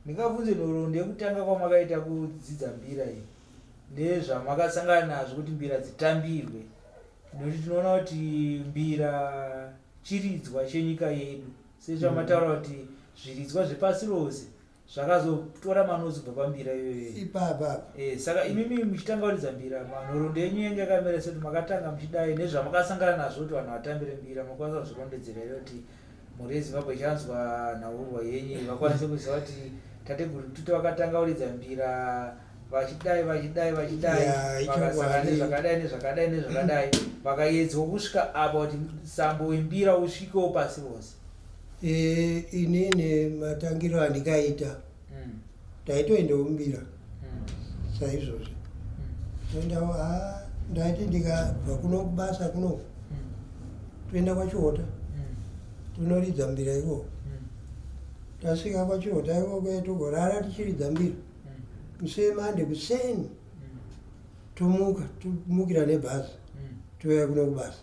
ndingabvunze nhoro ndekutanga kwamakaita kudzidza mbira iyi ndezvamakasangana nazvo kuti mbira dzitambirwe nokuti tinoona kuti mbira chiridzwa chenyika yedu sezvamataura mm. kuti zviridzwa zvepasi rose zvakazotora manozi kubva pambira iyoyoipapa eh, saka imimi muchitanga kuridza mbira manhorondo yenyu yenge yakamira sekuti makatanga muchidai nezvamakasangana nazvo kuti vanhu vatambire mbira makwanisa kuzvirondedzera iro kuti mhuri yezimbabwe ichanzwa nhaurwa yenyu vakwanise kuziva kuti tateguru tuti vakatanga kuridza mbira vachidai vachidai vachidai vakasangana nezvakadai nezvakadai nezvakadai vakaedzwa kusvika apa kuti sambo wembira usvikewo pasi rose Eh, inini matangiro andikaita mm. taitoenda umbira mm. saizvozvi mm. toenda ah, ndaiti ndikabva kuno kubasa kuno mm. toenda kwachiota mm. tonoridza mbira ikoko mm. tasvika kwachiota ikoko togorara tichiridza mbira mm. musemande kuseni mm. tomuka tomukira nebhazi mm. touya kuno kubasa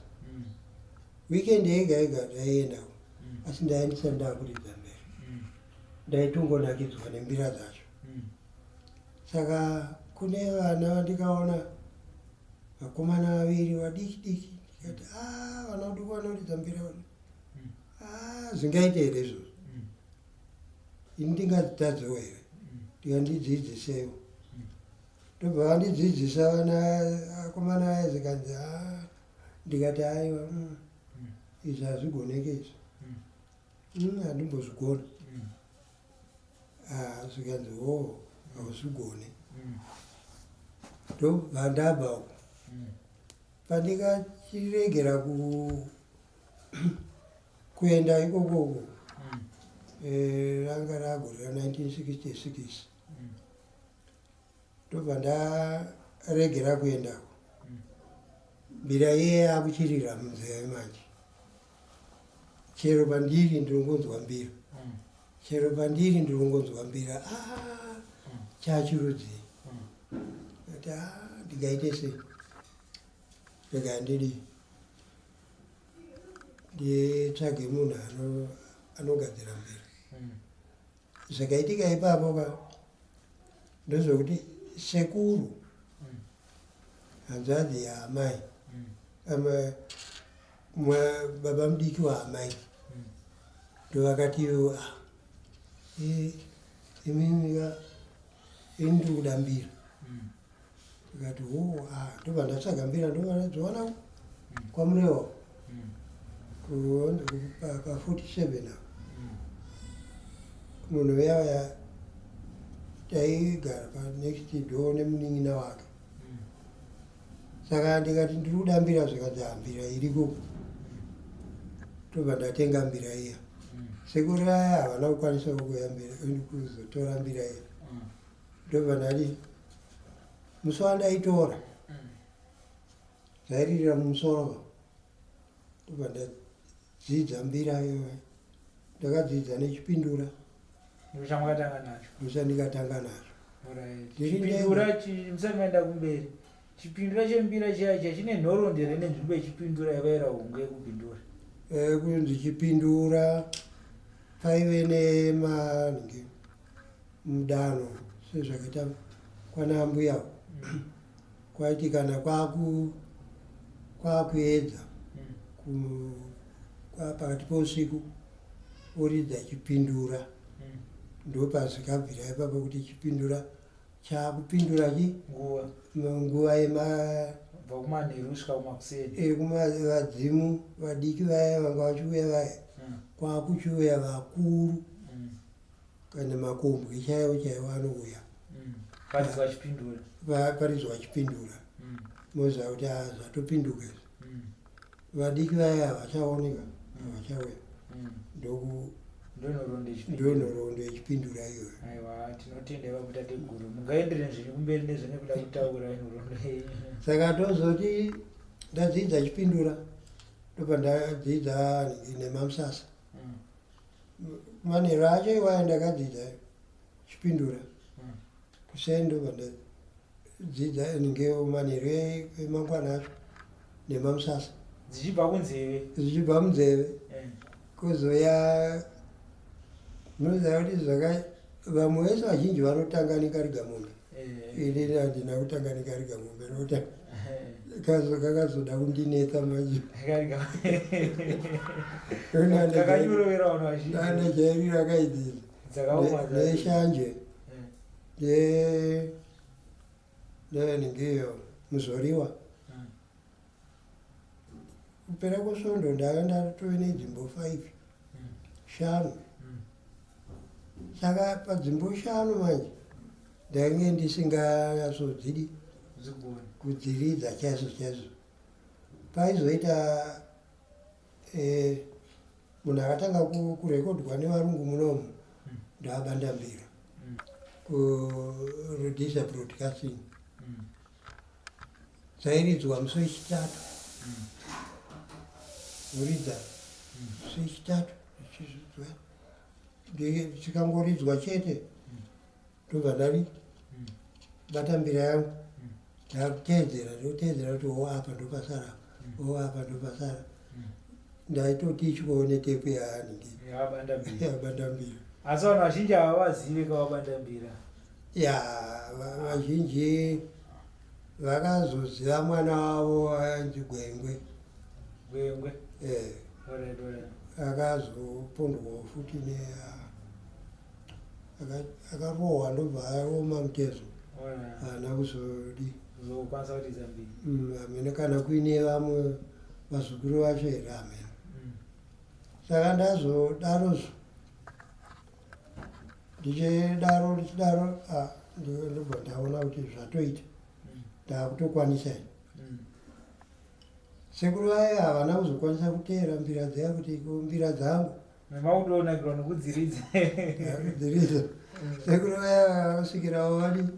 weekend yega yega ndaiendako mm. asi ndaendisa ndakuridza mberi mm. ndaitongonakidzwa nembira dzacho mm. saka kune vana vandikaona vakomana vaviri vadiki diki ndikati a ah, vana vaduku vanoridza mbira vana mm. a ah, zvingaite here izvozvo mm. ini ndingadzitadzewo here mm. ndikandidzidzisewo ndobva vandidzidzisa vana akomana aye zikanzi a ah, ndikati aiwa mm, izvi hazvigoneke izvi Mm, handimbozvigoni Ah, zvikanzi o hauzvigoni ndobva ndabva uko pandikachiregera ku kuenda ikokoko eh, ranga ragore ra 1966 ndobva ndaregera kuendako mbira iye akuchirira munzeve manje chero pandiri ndirongonzwa mbira mm. chero pandiri ndirongonzwa mbira ah, chachirudzii mm. ati ah, ndingaite sei rega ndidi nditsvage munhu anogadzira mbira mm. Zvakaitika ipapo ka ndozvokuti sekuru mm. hanzvadzi yaamai mm. baba mudiki waamai mm. ndovakati ah, imimika ini ndiri kudambira ndikati hoo ah, ndobva ndatsvaga mbira ndovanadziwana kwamurewa paforty seven apo munhu veyavaya taigara panext door nemunin'ina wake saka ndikati ndiri kuda mbira zvikanzi hambira iriko tobva ndatenga mbira iya sekuru aya havana kukwanisa kukuya mbira kuzotora mbira iya ndobva ndati musi wandaitora zairirira mumusoro ndobva ndadzidza mbira iyoyo ndakadzidza nechipindura ndochamwakatanga nacho ndochandikatanga nacho chipindura musamaenda kumberi chipindura chembira chiya chiya chine nhorondi here nenzvimbo yechipindura yavaira hungu yekupindura eh, kunzi chipindura paive nemange mudano sezvakaita kwana ambuya kwaiti kana kwaku kwakuedza pakati pousiku oridza chipindura hmm. ndopazvikabvira ipapo kuti chipindura chakupindura chi nguva yemavadzimu eh, vadiki vaya vanga vachiuya vaya hmm. kwakuchiuya vakuru hmm. kana makombwe chaiwo chaiwo anouya mm. parizwa achipindura parizwa achipindura mm. moziva kuti ah, zvatopinduka izvo mm. vadiki vaya havachaoneka havachauya ndoku ndonhoroondo yechipindura iyoyo aiwa tinotenda vakuita teguru mungaendere zvenyu kumberi nezvene kuda kutaura nhoroondo saka tozoti ndadzidza chipindura ndopandadzidza nemamusasa manheru acho iwaya ndakadzidza chipindura hmm. kuseni ndobva ndadzidza ndinge manheru emangwana acho nemamusasa dzichibva kunzeve dzichibva munzeve hmm. kuzouya munoziva kuti zvaka vamwe vese vazhinji vanotanga nekariga mombe eh. ini handina kutanga nekariga mombe nota kazo kakazoda kundinetsa manje ana jairiro akaidzidza neshanje eh. ndevenengeyo muzoriwa kupera kwesvondo ndave ndatove nedzimbo five hmm. shanu hmm. saka padzimbo shanu manje ndainge ndisingasodzidi kudziridza chaizvo chaizvo paizoita eh, munhu akatanga kurekodwa nevarungu munomu hmm. ndaabanda mbira kurudisa broadcasting Tairidzwa musi wechitatu. Kuridza musi wechitatu tichizvidzwa. Tikangoridzwa chete ndobva ndari bata mbira yangu ndakuteedzera ndoteedzera kuti wo apa ndopasara wo apa ndopasara ndaitoti ichikoone tepu yaani yabanda mbira asi vanhu vazhinji havavazive kavabanda mbira ya vazhinji vakazoziva mwana wavo ainzi gwengwe gwengwe eh. akazopondwawo futi ne akarohwa ndobva aoma mutezo haana kuzodi mm, amene kana kuine vamwe vazukuru vacho here amene mm. saka ndazodaro zvo ndichidaro ndichidaro ah, ndobva ndaona kuti zvatoita ndakutokwanisa i mm. sekuru vaye havana kuzokwanisa kuteera mbira dzaya kuti mbira dzangu mavakutoonakirwa nokudziridza dziridza mm. sekuru vaya vasvikirawo vadi mm.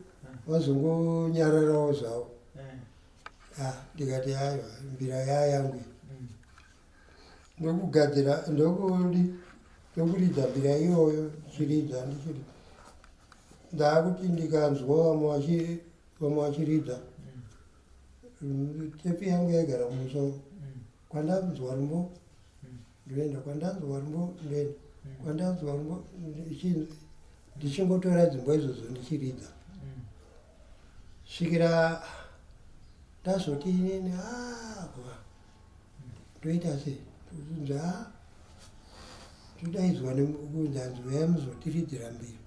vazongonyararawo zvavo ah, ndikati aiwa mbira yaya yangu ndokugadzira ndokudi ndokuridza mbira iyoyo ndichiridza ndichiri ndaakuti ndikanzwa vamwe vachi vamwe vachiridza mm, tepi yangu yaigara mumusoro mm. kwandanzwa rumbo mm. ndoenda kwandanzwa rumbo ndoenda kwandanzwa rumbo ndichingotora dzimbo izvozvo ndichiridza svikira ndazoti inini aa ah, toita sei tozunza todaidzwa nekunzi hanzi uyai muzotiridzira mbiri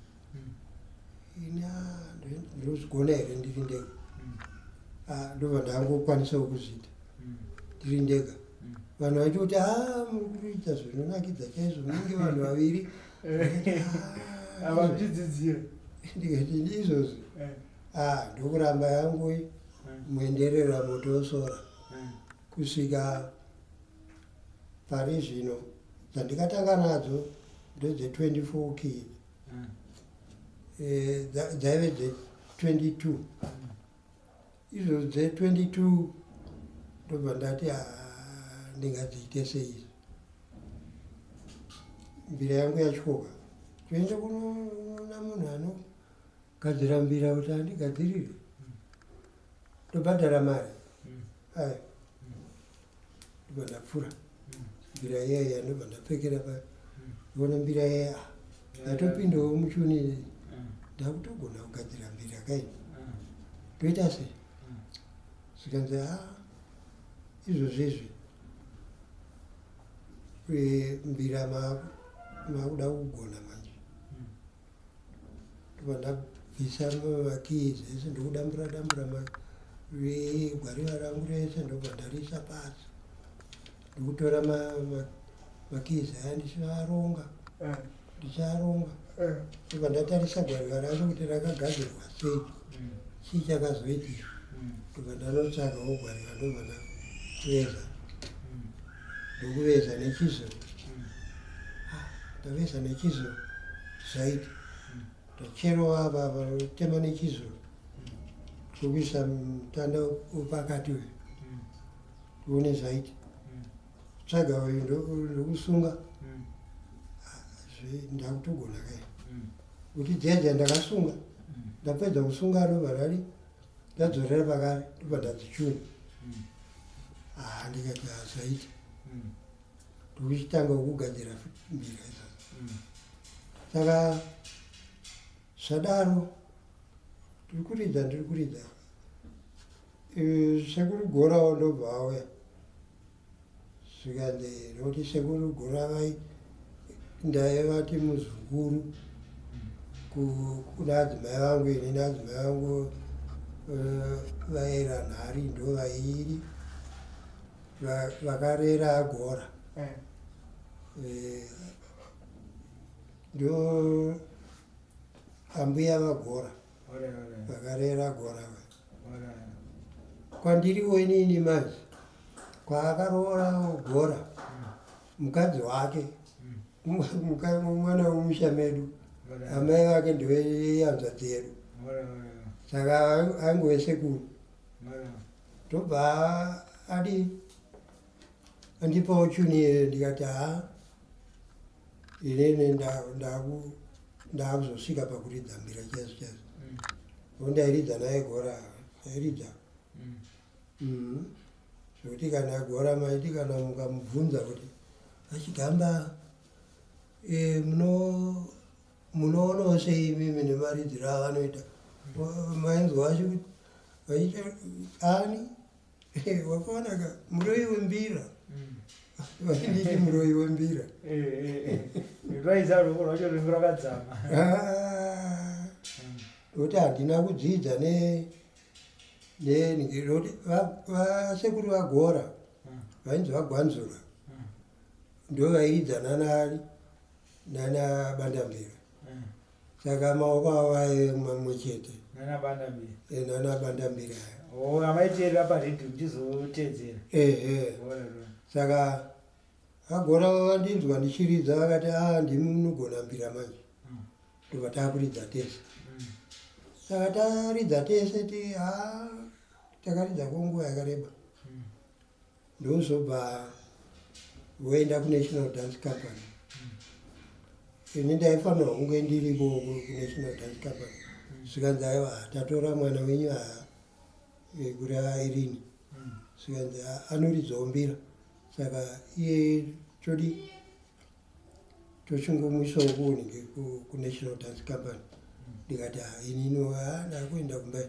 ina ndinozvigona here ndiri ndega ndobva ndangokwanisawo kuzviita ndiri ndega vanhu vachoti a muri kutoita zvinonakidza chaizvo munenge vanhu vaviri avazvidzidzira ndikati ndizvozvo Ah, ndokuramba yangu iyi muenderera moto wesora kusvika pari zvino dzandikatanga nadzo ndedze 24 key Eh, dza- dzaive dze 22 izvo dze 22 ndobva ndati "Ah, ndingadziite seizi mbira yangu yatyoka toende kunona munhu ano Kadzirambira kuti andigadzirire. Ndobhadhara mari. Mm. Ayi. Ndobva ndapfura. Mm. Mbira yeya ndobva ndapfekera pa. Mm. Ndobona mbira yeya. Ndatopindawo muchuni ine. Mm. Ndakutogona kugadzira mbira kai. Mm. Toita sei? Mm. Zvikanzi ha. Ah, izvozvi izvi. Mbira makuda kugona manje. Vandabvisa makii zvese ndokudambura dambura gwariva rangu rese ndobva ndarisa pasi ndikutora makizi aya ndichivaronga eh. ndichiaronga eh. ndobva ndatarisa gwariva rangu kuti rakagadzirwa sei mm. chii chakazoitika mm. ndobva ndanotsvagawo gwariva ndobva ndaveza mm. ndokuveza nechizvo ah, ndoveza nechizvo zvaiti ndocherowa apa vanotema nechizvo tokuisa mutanda upakati uyu tione zvaiti tsvaga uyu ndokusunga ah, ndakutogona kai kuti jeje ndakasunga ndapedza kusunga rovarari ndadzorera pakare ndobva ndanzi chuu mm. haa ah, ndikati hazvaiti mm. ndokuchitanga kugadzira mbira izvozvo mm. saka zvadaro ndiri kuridza ndiri kuridza sekuru gorawo ndobva auya zvikanzi ndokuti sekuru guravai ndaye vati muzukuru kuna adzimai vangu ini naadzimai vangu eh, vaera nhari ndo vairi vakarera agora eh. Eh, ndo ambuya vagora vakarera agora kwandiriwo inini manje kwaakaroora ogora mukadzi wake mwana wemusha medu amai vake ndoyanza dzedu saka angove sekuru tobva adi andipawo chuni here ndikati haa inene ndaakuzosvika pakuridza mbira chaizvo chaizvo mm. o ndairidza naye gora airidza mm. mm. zvekuti kana gora maiti kana mukamubvunza kuti achigamba eh, munoonawo sei imimi nemaridziro avanoita mainzwa vacho kuti ani Eh, wakaonaka muroyi wembira mm. vainditi muroyi wembira eh, eh, rwaizaroko rwacho ringu rakadzama ah. ndokuti handina kudzidza nekuti vasekuru vagora mm. vainzi vagwanzura mm. ndo vaiidzana nani nana bandambira saka maoko avo vaive mamwe chete nanabandambira avaiteerera paredhi ndichizotedzera ehe saka agona vandinzwa ndichiridza vakati a ah, ndimi munogona mbira manje hmm. ndobva takuridza tese hmm. saka taridza tese ti a ah, takaridza kwenguva yakareba hmm. ndozobva voenda kunational dance company ini ndaifanirwa kunge ndiripo kunational dance company zvikanzi aiwa tatora mwana wenyu haa kuri airini zvikanzi anoridzawo mbira saka iye chodi tochingomwisa uko unenge kunational dance company ndikati inino ndakuenda kumba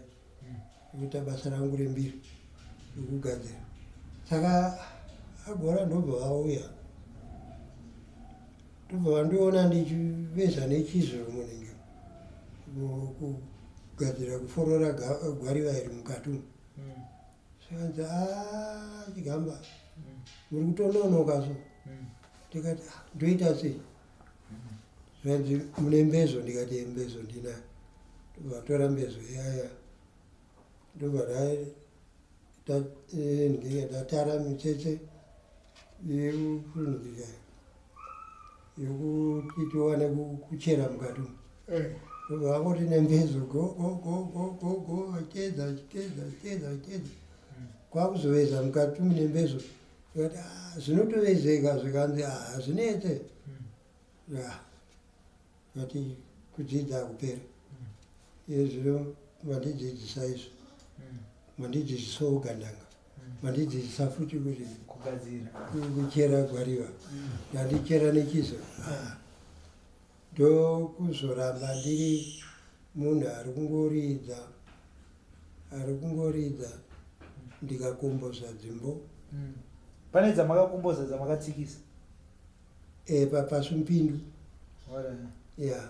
kuita basa rangu rembiri rekugadzira saka agora ndobva vauya ndobva vandiona ndichiveza nechiziro munenge kugadzira kuforora gwariva iri mukati umu zvikanzi haa chigamba muri kutononoka so ndikati "Ah, ndoita sei zvanzi mune mbezo ndikati "Eh, mbezo ndina vatora mbezo yaya ndobva dai- ta- eh, ndinenge ndatara mitsetse yekurunukidzana yokuti tiwane kuchera mukati umu ndobva vangoti nembezo gogogogogogo acheza achiteza achiteza achiteza kwakuzoveza mukati umu nembezo tikati ah, zvinotovezeka zvikanzi ah, hazvinetse tikati hmm. kudzidza kupera hmm. izvino vandidzidzisa izvo vandidzidzisa hmm. ogananga vandidzidzisa futi kuti kugadzira kuchera gwariva ndandichera nechizo ah. ndokuzoramba ndiri munhu ari kungoridza ari kungoridza ndikakomboza dzimbo hmm. pane dzamakakomboza dzamakatsikisa eh, papasumpindu ya yeah.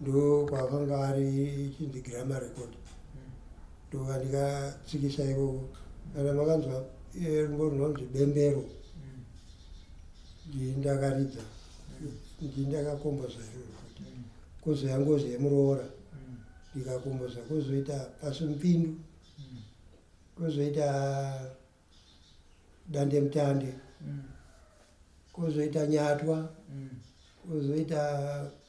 ndo kwakanga ari chinzi grama record ndova ndikatsikisa ikoko kana makanzwa eh, rungo runonzi bembero ndii ndakaridza ndii ndakakomboza iroro kuzouya ngozi yemuroora ndikakomboza kozoita pasi mupindu kozoita dande mutande kozoita nyatwa kozoita mm.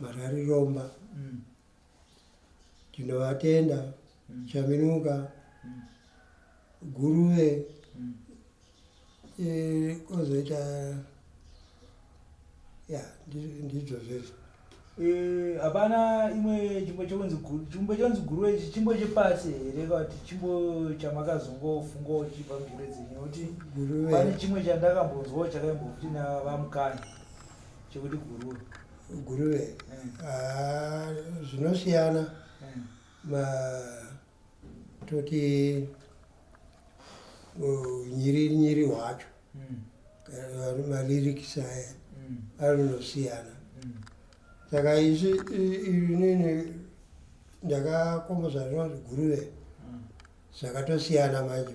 Marari Romba mm. tinovatenda mm. Chaminuka mm. Guruve mm. e, kozoita ya ndidzo zvese Eh, hapana imwe chimbo chekunzi chimbo chekunzi guru ichi chimbo chepasi here kati chimbo chamakazongofunga uchibva mugure dzenyu kuti pane chimwe chandakambonzwawo chakaimbokuti navamukani chekuti guruve guruve mm. ah, zvinosiyana mm. ma toti nyiri nyiri wacho mm. eh, malirikisi aya mm. anonosiyana mm. saka isi inini ndakakomboza zvinonzi guruve mm. zvakatosiyana manje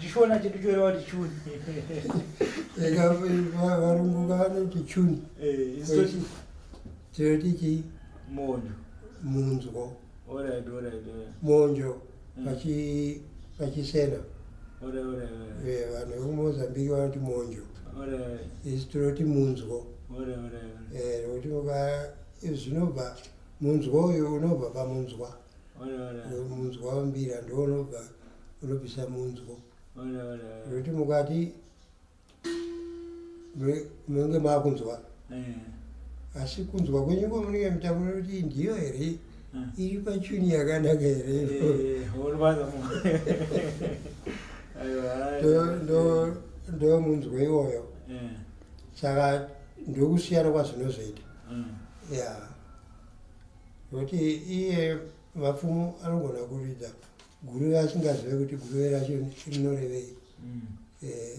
chishona chedu chorewa kuti chuni varungu vanoti chuni tinoti chii monjo munzwo monjo pachisena vanhu vekumozambique vanoti monjo isu tinoti munzwo nekuti zvinobva munzwo uyo unobva pamunzwa munzwa wambira ndounobva unopisa munzwo zvekuti mukati munenge maakunzwa eh. asi kunzwa kwenyu kwamunenge mutaura kuti ndiyo here eh. iri pachuni yakanaka here eh, ndomunzwa iwoyo saka ndokusiyana kwazvinozoita ya nokuti iye vapfumo anogona kuridza guruve asingazive kuti guruve racho rinorevei mm. eh.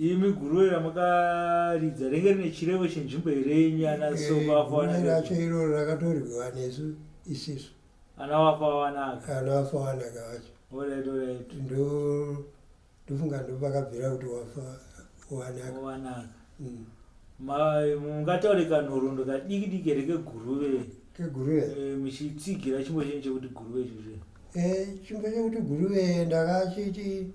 imi guruve ramakaridza renge rine chirevo chenzvimbo here nyana eh, sovafaana racho iroro rakatorwiwa nesu isisu ana vafawanaka ana vafawanaka vacho olrigt olrigt ndo ndofunga ndopakabvira kuti wafa wanaka mm. mungataure kanhoroondo kadiki diki here keguruve keguruve eh, muchitsigira chimbo chenyu chekuti guruve ichocho eh, chimbo chekuti guruve ndakachiti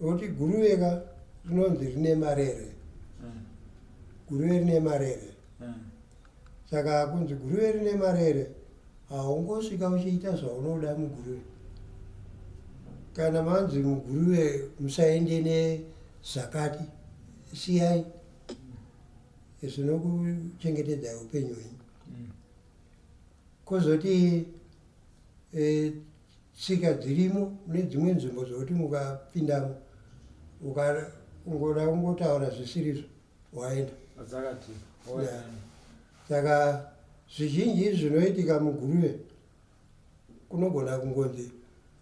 nokuti guruve ka rinonzi rine marere hmm. guruve rine marere hmm. Saka kunzi guruve rine marere haungosvika uchiita zvaunoda muguruve. Kana manzi muguruve musaende nezvakati siyai zvinokuchengetedza upenyu hwenyu. Mm. Kozoti eh, tsika dzirimo mune dzimwe nzvimbo dzokuti mukapindamo ukangoda kungotaura zvisirizvo waenda adzakati Yeah. saka zvizhinji izvi zvinoitika muguruve kunogona kungonzi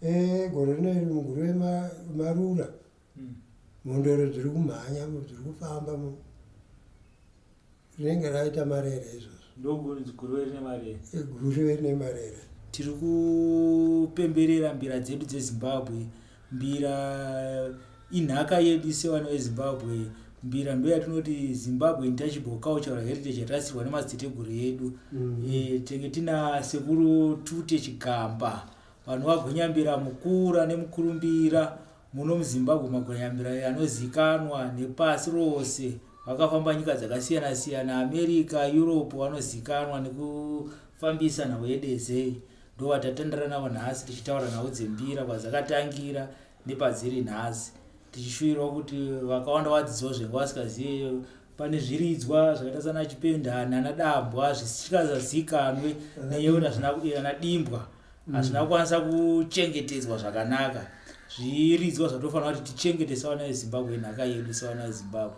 "Eh, gore rino iri muguruve ma- marura Mm. mhondoro dziri kumhanya mu- dziri kufamba mu rinenge raita marere izvozvo ndokunzi guruve rine mari guruve rine marere tiri kupemberera mbira dzedu dzezimbabwe mbira inhaka yedu sevana vezimbabwe mbira ndo yatinoti zimbabwe intouchable cultural heritage yatasirwa nemadziteguru edu mm. e, eh, tenge tina sekuru tute chigamba vanhu vagonyambira mukura nemukurumbira muno muzimbabwe magonyambira anozikanwa nepasi rose vakafamba nyika dzakasiyana siyana america europe vanozikanwa nekufambisa nhau yedezei ndovatatandara navo nhasi tichitaura nhau dzembira kwadzakatangira nepadziri nhasi tichishuvirawo kuti vakawanda vadzidziwo zvenga vasikazive pane zviridzwa zvakaita sana chipendani ana dambwa zvisingazazikanwe neyeuti ana dimbwa hazvina kukwanisa kuchengetedzwa zvakanaka zviridzwa zvatofanira kuti tichengete sawana yezimbabwe inhaka yedu sawana yezimbabwe